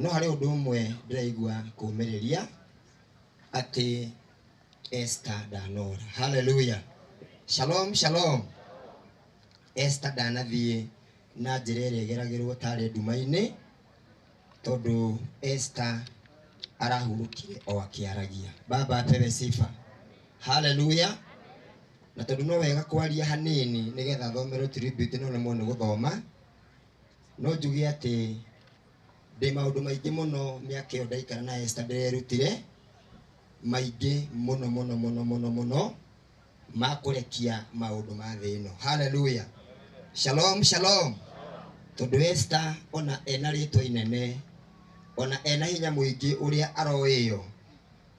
No harĩ ũndũ ũmwe ndĩraigua kũmĩrĩria, atĩ Esther ndanora. Hallelujah. Shalom shalom. Esther ndanathiĩ na njĩra ĩrĩa ĩgeragĩrwo tarĩ nduma-inĩ, tondũ Esther arahurũkire o akĩaragia. Baba apewe sifa. Hallelujah. Na tondũ no wega kwaria hanini nĩgetha thomerwo tribute ĩno nĩ mũndũ gũthoma, No njuge atĩ ndĩ maũndũ maingĩ mũno mĩaka ĩyo ndaikara na Esther ndĩrerutire, maingĩ mũno mũno mũno mũno mũno ma kũrekia maũndũ ma thĩ ĩno. Hallelujah. Shalom, shalom. Tondũ Esther ona ena rĩtwa inene, ona ena hinya mũingĩ ũrĩa aroĩyo,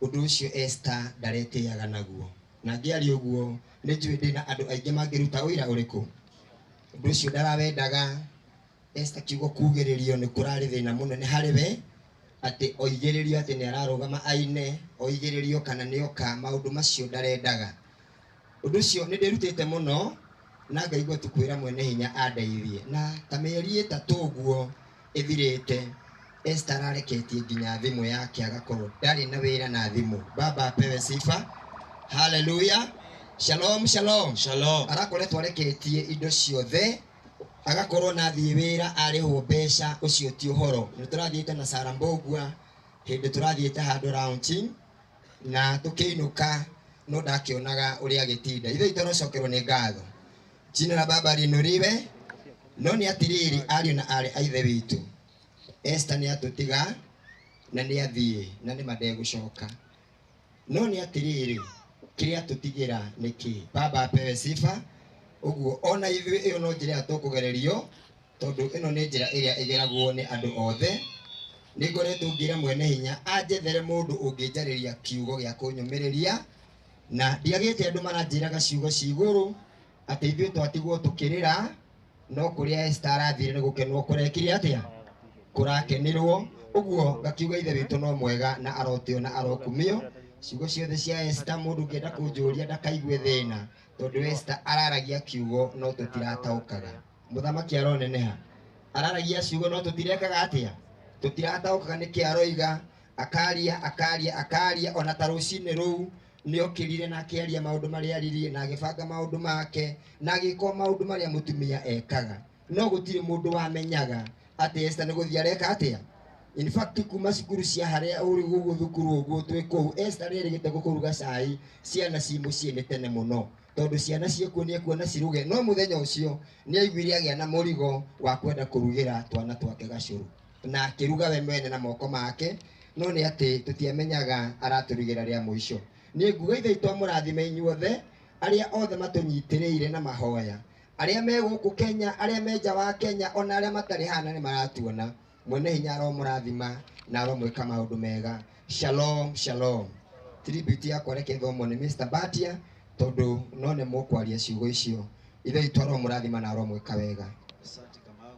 ũndũ ũcio Esther ndaretĩaga naguo. Na angĩaria ũguo, nĩ njũĩ ndĩna andũ aingĩ mangĩruta ũira ũrĩkũ? ũndũ ũcio ndarawendaga Esther akiuga kugĩrĩrio nĩ kũrarĩ thĩna mũnene harĩ we atĩ oigĩrĩrio atĩ nĩ ararũgama aine oigĩrĩrio kana nĩ oka maũndũ macio ndarendaga ũndũ ũcio nĩ ndĩrutĩte mũno na ngaigua tu kwĩra mwene hinya andeithie na ta mĩeri ĩtatũ ũguo ĩthirĩte, Esther arareketie nginya thimũ yake agakorwo ndarĩ na wĩra na thimũ. Baba apewe sifa. Hallelujah. Shalom, shalom. Shalom. Arakoretwo areketie indo ciothe agakorwo na thiĩ wĩra arĩhwo mbeca, ũcio ti ũhoro. Nĩ tũrathiĩte na Sarah Mbũgua hĩndĩ tũrathiĩte handũ launching na tũkĩinũka no ndakĩonaga ũrĩa agĩtinda. Ithuĩ itũrocokerwo nĩ ngatho. Jina la Baba linuriwe. No nĩ atĩrĩrĩ, ariũ na aarĩ a Ithe witũ, Esta nĩ atũtiga na nĩ athiĩ na nĩ mandegũcoka. No nĩ atĩrĩrĩ, kĩrĩa tũtigĩra nĩ kĩ? Baba apewe sifa. Ũguo ona ithuĩ ĩyo no njĩra ĩrĩa tũkũgererio, tondũ ĩno nĩ njĩra ĩrĩa ĩgeragwo nĩ andũ othe. Nĩ ngoretwo ngĩra mwene hinya anjethere mũndũ ũngĩnjarĩria kiugo gĩa kũnyũmĩrĩria, na ndiagĩte andũ maranjĩraga ciugo cia igũrũ atĩ ithuĩ twatigwo tũkĩrĩra no kũrĩa Esta arathire nĩ gũkenwo kũrekire atĩa kũrakenĩrwo ũguo ngakiuga ithe witũ no mwega na arotĩo na arokumio ciugo ciothe cia Esta mũndũ ũngĩenda kũnjũria ndakaigue thĩna tondũ Esta araragia kiugo no tũtirataũkaga mũthamaki aroneneha araragia ciugo no tũtirekaga atĩa tũtirataũkaga nĩkĩ aroiga akaria akaria akaria ona ta rũcinĩ rũu nĩ okĩrire na akĩaria maũndũ marĩa aririe na agĩbanga maũndũ make na agĩka o maũndũ marĩa mũtumia ekaga no gũtirĩ mũndũ wamenyaga atĩ Esther nĩ gũthiĩ areka atĩa in fact kuma cukuru cia harĩa ũrĩ gũkũ thukuru ũguo twĩ kũu Esther nĩ erĩgĩte gũkũruga cai ciana ci mũciĩ nĩ tene mũno tondũ ciana ciakuo nĩ ekuona ciruge no mũthenya ũcio nĩ aiguire agĩa na mũrigo wa kwenda kũrugĩra twana twake gacũrũ na akĩruga we mwene na moko make no nĩ atĩ tũtiamenyaga aratũrugĩra rĩa mũico nĩ nguga ithe itwa mũrathime inyuothe arĩa othe matũnyitĩrĩire na mahoya arĩa me gũkũ kenya arĩa me nja wa kenya ona arĩa matarĩ hana nĩ maratuona mwene hinya aromũrathima na aromwĩka maũndũ mega shalom shalom tribute yakwa reke thomwo nĩ mr batia tondũ no nĩ mũkwaria ciugo icio ithe itwa aromũrathima na aromwĩka wega Asante Kamau.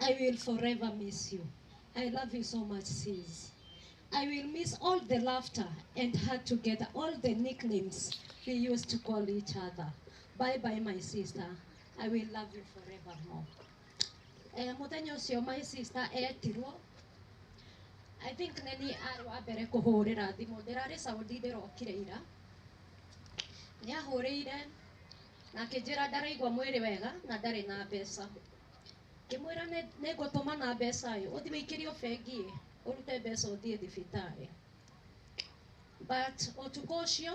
I will forever miss you. I love you so much, sis. I will miss all the laughter and her together, all the nicknames we used to call each other. Bye bye, my sister. I will love you forevermore. Eh, muthenya ucio my sister etirwo I think neni arĩ wa mbere kũhũrĩra thimũ ndĩrarĩ Saudi ndĩrokire ira nĩ ahũrĩire na akĩnjĩra ndaraigua mwĩrĩ wega na ndarĩ na mbeca ngĩmwĩra "Nĩ- nĩngũtũmana mbeca ĩ ũthiĩ wĩikĩrio bengi ĩ ũrute mbeca ũthiĩ thibitarĩ but ũtukũ ũcio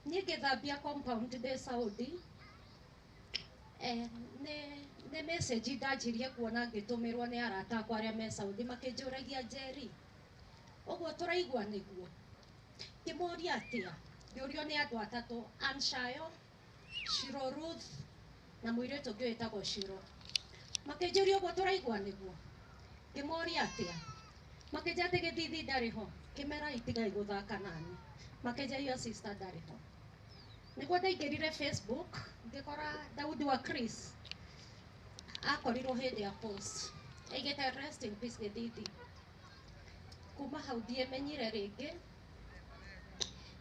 niĩ ngĩthambia compound ndĩ Saudi eh, nĩ nĩ message ndanjirie kuona ngĩtũmĩrwo nĩ arata akwa arĩa me Saudi makĩnjũragia Njeri ũguo tũraigua nĩguo ngĩmoria atĩa ngĩũrio nĩ andũ atatũ Anshayo Shiro Ruth na mũirĩtu ũngĩ wĩtagwo Shiro makĩnjũria ũguo tũraigua nĩguo ngĩmoria atĩa makĩnjĩra atĩ gĩthithi ndarĩ ho ngĩmera itigai gũthaka nani makĩnjĩra your sister ndarĩ ho nĩguo ndaingĩrire Facebook ngĩkora Daudi wa Chris akorirwo hĩndĩ ya post aigĩte rest in peace gĩthithi Kuma hau ndiĩmenyire rĩngĩ,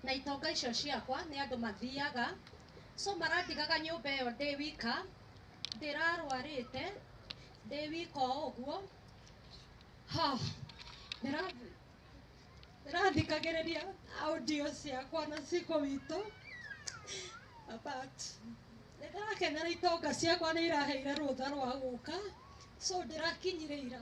na itonga icio ciakwa nĩ andũ mathiaga, so marandigaga nyũmba ĩyo ndĩ wika, ndĩrarwarĩte, ndĩ wika o ũguo, ha, ndĩra, ndĩrathikagĩrĩria audio ciakwa na ciko witũ, but nĩndĩrakenera itonga ciakwa nĩiraheire rũtha rwa gũka, so ndĩrakinyire ira.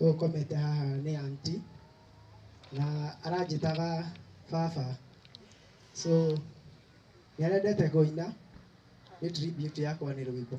Ũyũ ũkomete haha nĩ aunty na aranjĩtaga baba so nĩarendete kũina nĩ tribute yakwa nĩ rwĩmbo.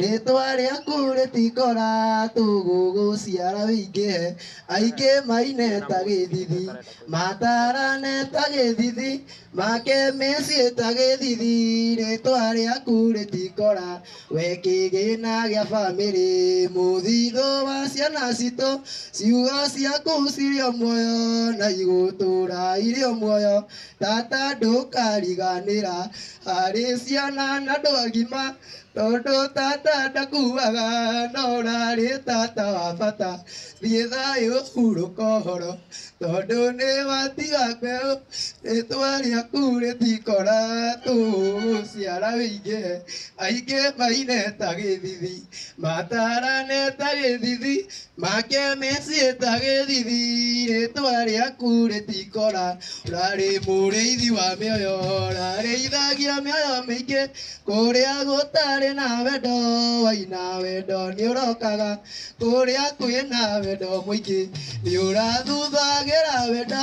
Rĩtwa rĩaku rĩtikora tũgũ gũciara wĩingĩhe aingĩ maine ta gĩthithi matarane ta gĩthithi make mĩciĩ ta gĩthithi rĩtwa rĩaku rĩtikora we kĩgĩna gĩa bamĩrĩ mũthithũ wa ciana citũ ciugo ciaku cirĩ o muoyo na igũtũra irĩ o muoyo tata ndũkariganĩra harĩ ciana na andũ agima tondũ tata ndakuaga no ũrarĩ tata wa bata thiĩ thayũ hurũka ũhoro tondũ nĩ watiga mbeũ rĩtwa rĩaku rĩtikora tũgũciara wĩingĩhe aingĩ maine ta gĩthithi matarane ta gĩthithi Make meciĩta gĩthithi rĩtwa rĩaku rĩtikora ũrarĩ mũrĩithi wa mĩoyo ũrarĩithagia mĩoyo mĩingĩ kũrĩa gũtarĩ na wendo waina wendo nĩ ũrokaga kũrĩa kwĩna wendo mũingĩ nĩ ũrathuthagĩra wendo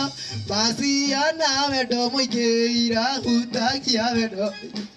maciana wendo mũingĩ irahutagia wendo mũingĩ.